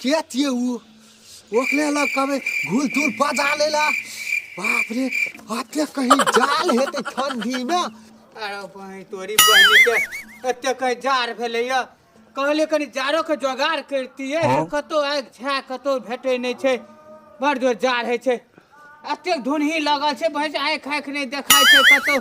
के थिए ऊ ओकरे लग कहबै घूर धूर बजा लै ला बाप रे अते कहीं जाल हेतै ठंडीमे अरे बहिन तोरी बहिनी के एते कहीं जाड़ भेलैया कहले कनी जाड़ो के जोगाड़ करतियै कतौ आगि छा कतौ भेटै नहि छै बड़ जोर जाड़ होइ छै एतेक धुनही लगल छै बहिन आँखि आँखि नहि देखाइ छै कतौ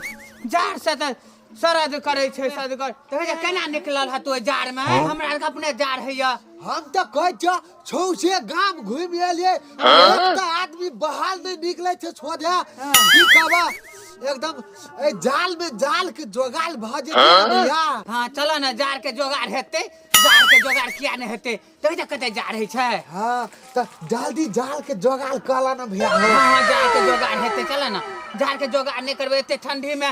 जाड़ से तऽ सरद करै छै सदगर तऽ होइए केना निकलल हँ तोइ जाड़मे हमरा आरके अपने जाड़ होइए हम तऽ कहै छियौ छौ से गाम घुमि एलियै एकटा आदमी बहाल नहि निकलै छै सोझे की कहबा एकदम ए जाल में जाल के जोगाल भऽ जेतै भैया हँ चलऽ ने जाड़ के जोगाड़ हेतै जाड़ के जोगाड़ किया नहि हेतै तऽ होइए कते जाड़ होइ छै हँ तऽ जल्दी जाल के जोगाल कऽ लऽ ने भैया हँ हँ जाड़ के जोगाड़ हेतै चलऽ ने जाड़ के जोगाड़ नहि करबै एते ठंडी में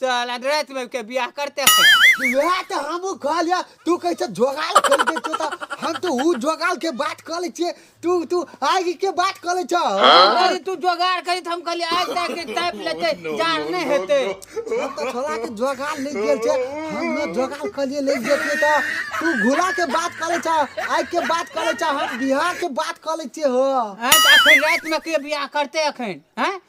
साला रात में के बियाह करते थे वह तो हम कह लिया तू कैसे जोगाल कर दे छो त हम तो ऊ जोगाल के बात कर ले छे तू तू आग के बात कर ले छो अरे तू जोगाड़ करी तो हम कहली आज तक के टाइप लेते जाड़ नहीं हेते हम तो छोड़ा के जोगाल ले गेल छे हम न जोगाल कर लिए ले गेल छे त तू घुला के बात कर ले छो आग के बात कर ले छो हम बिहार के बात कर ले छे हो हैं तो अखन रात में के बियाह करते अखन हैं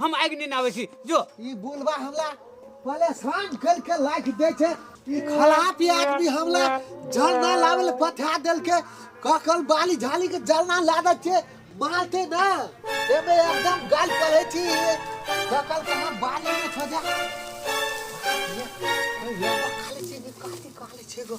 हम आगि नहि आबै छी जो ई बुलवा हमला परेशान कर के लाइक दे छे ई खराब आदमी हमला जलना लावे ले पठा देल के ककल बाली झाली के जलना ला दे छे मारते ना ए में एकदम गाल पड़े छी ककल के हम बाली में छोजा ये ये खाली छी काटी काली छी गो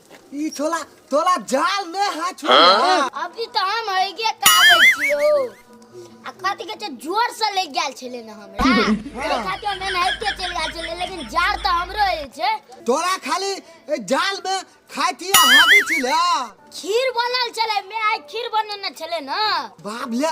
ई छोला तोला जाल ने है छोला अभी तो हम हइगे काबे छियो आ कथी के छै जोर से ले गेल छले ने हमरा ओकरा खातिर हम एनाहिते चलि गेल छले लेकिन जार तो हमरो हे छै तोरा खाली ए जाल में खाई थी हावी छिला खीर बनल छले मैं आइ खीर बनेने छले ना बाप ले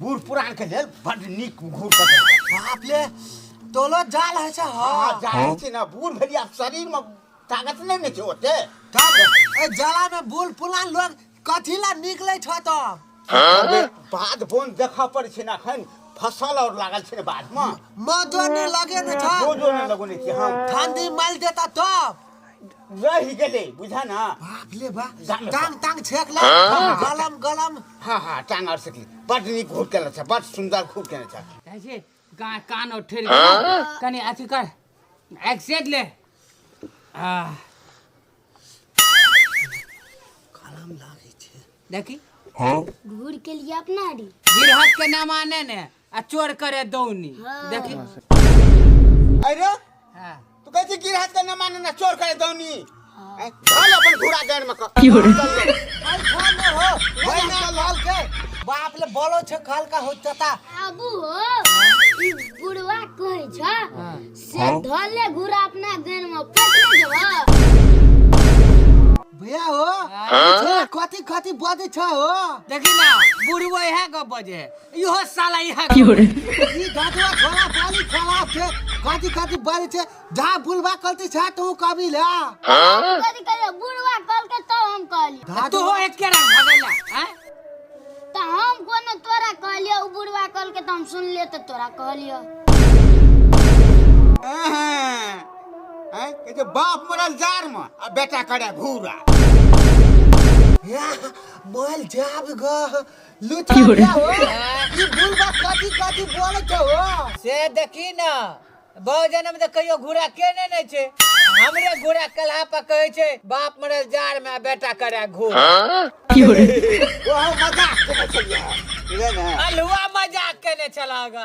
बूढ़ पुरान के लेल बड नीक घूर कऽ देलकै बाप ले तोलो जाल है छै हँ हँ जानै छी ने बूढ़ भेलियै आब शरीर में ताकत नहि ने छै ओते तब ए जाला में बूढ़ पुरान लोग कथी ला निकले छ तो अबे, बाध बोन देखऽ पड़ै छै ने एखन फसल और लागल छै ने बाध में मजो ने लगे ने छ दो दो नहि लगौने छी हम ठंडी माइल देता तब रहि गेलै बुझा ना बाप ले बा जान ले। टांग टांग छेक ले गलम गलम हाँ हाँ टांग और सकली बड नीक घूट केने छ बड सुंदर घूट केने छ जाइ छै गा कान और ठेर कनी अथी कर एक्सेट ले आ गलम लागै छै देखी घूर के लिए अपना री गिरहत के नाम आने ने आ चोर करे दौनी देखी अरे हाँ। तू कहै छी गिरहत के न माने ना चोर करे दौनी ऐ, चल अपन घूरा गाड़ में क भाई फोन में हो भाई ना लाल के बाप ले बोलो छे काल का हो चता आबू हो ई बुढ़वा कहै छ से धले घुरा अपना गन में पटने जेबा भैया हो कथी कथी बजे छ हो देखी ना बुढ़वा इहे गप बजे है इहो साला यहाँ की हो रे ई दादवा खोला पाली खोला छे काटी काटी बारी छे जा बुलवा कलती छे तू कभी ले कथी कहलियै बुढ़वा कहलकै तब हम कहलियै तो हो एक केरा भगेला हैं तऽ हम कोनो तोरा कहलियै ओ बुढ़वा कहलकै तऽ हम सुनलियै तऽ तोरा कहलियै हैं के जे बाप मरल जार में आ बेटा करे घूरा मोल जाब ग लुचारिया हो ई बुलबा कथी कथी बोले छौ हो से देखी न बहु जन्म तऽ कहियो घूरा केने नहि छै हमरे घूरा कलहा पर कहै छै बाप मरल जार में आ बेटा करे घूर ओहो मजाक केने छलियै ठीक है ने अलहुआ मजाक केने छलह गा